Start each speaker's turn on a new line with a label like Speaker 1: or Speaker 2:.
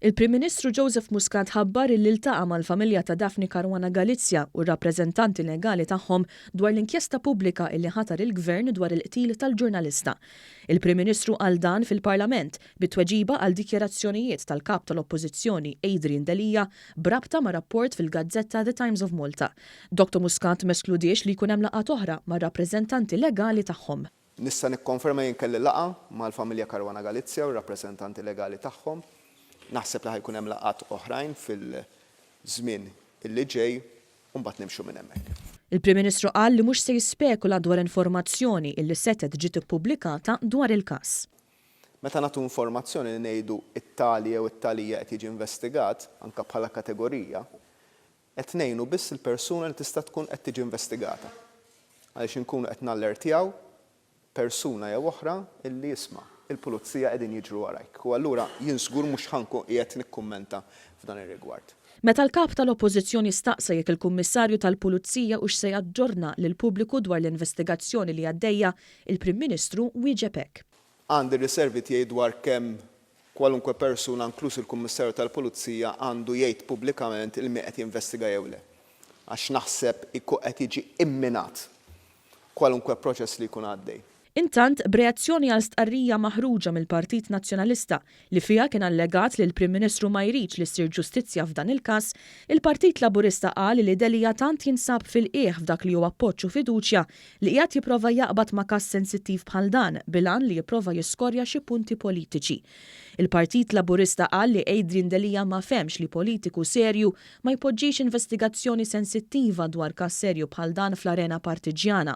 Speaker 1: Il-Prim Ministru Joseph Muscat ħabbar illi ltaqa' mal-familja ta' Daphne Caruana Galizia u r-rappreżentanti legali tagħhom dwar l-inkjesta pubblika illi ħatar il-Gvern dwar il-qtil tal-ġurnalista. Il-Prim Ministru qal dan fil-Parlament bi tweġiba għal dikjarazzjonijiet tal-Kap tal-Oppożizzjoni Adrian Delia b'rabta ma' rapport fil-gazzetta The Times of Malta. Doctor Muscat ma eskludiex li jkun hemm laqgħat oħra mar-rappreżentanti legali tagħhom. Nista' nikkonferma
Speaker 2: jien kelli laqgħa mal-familja Caruana Galizia u r-rappreżentanti legali tagħhom. Naħseb li ħa jkun hemm laqgħat oħrajn fil-żmien li ġej u mbagħad nimxu minn hemmhekk. Il-Prim Ministru qal
Speaker 1: li mhux se jispekula dwar informazzjoni illi setgħet ġiet ippubblikata dwar il-każ. Meta nagħtu
Speaker 2: informazzjoni li ngħidu t-tali jew it-tali qed jiġi investigat, anke bħala kategorija, Qed ngħinu biss il-persuna li tista' tkun qed tiġi investigata, għaliex inkunu qed nallertjaw persuna jew oħra illi isma', il-pulizija qegħdin jiġru warajk u allura jien żgur mhux ħa nkun qiegħed nikkummenta f'dan ir-rigward. Meta l-Kap
Speaker 1: tal-Oppożizzjoni staqsa jekk il-Kummissarju tal-Pulizija hux se jaġġorna lill-pubbliku dwar l-investigazzjoni li għaddejja, il-Prim Ministru wieġeb hekk. Għandi riservi
Speaker 2: tiegħi dwar kemm kwalunkwe persuna, inkluż il-Kummissarju tal-Pulizija, għandu jgħid pubblikament il-min qed jinvestiga jew le, għax naħseb ikun qed jiġi imminat kwalunkwe proċess li jkun għaddej. Intant, b'reazzjoni
Speaker 1: għal stqarrija maħruġa mill-Partit Nazzjonalista, li fiha kien allegat li l-Prim Ministru ma jridx li ssir ġustizzja f'dan il-każ, il-Partit Laburista qal li Delia tant jinsab fil-qiegħ f'dak li hu appoġġ u fiduċja li qiegħed jipprova jaqbad ma' każ sensittiv bħal dan bil-għan li jipprova jiskorja xi punti politiċi. Il-Partit Laburista qal li Adrian Delia ma fehmx li politiku serju ma jpoġġix investigazzjoni sensittiva dwar każ serju bħal dan fl-arena partiġġjana.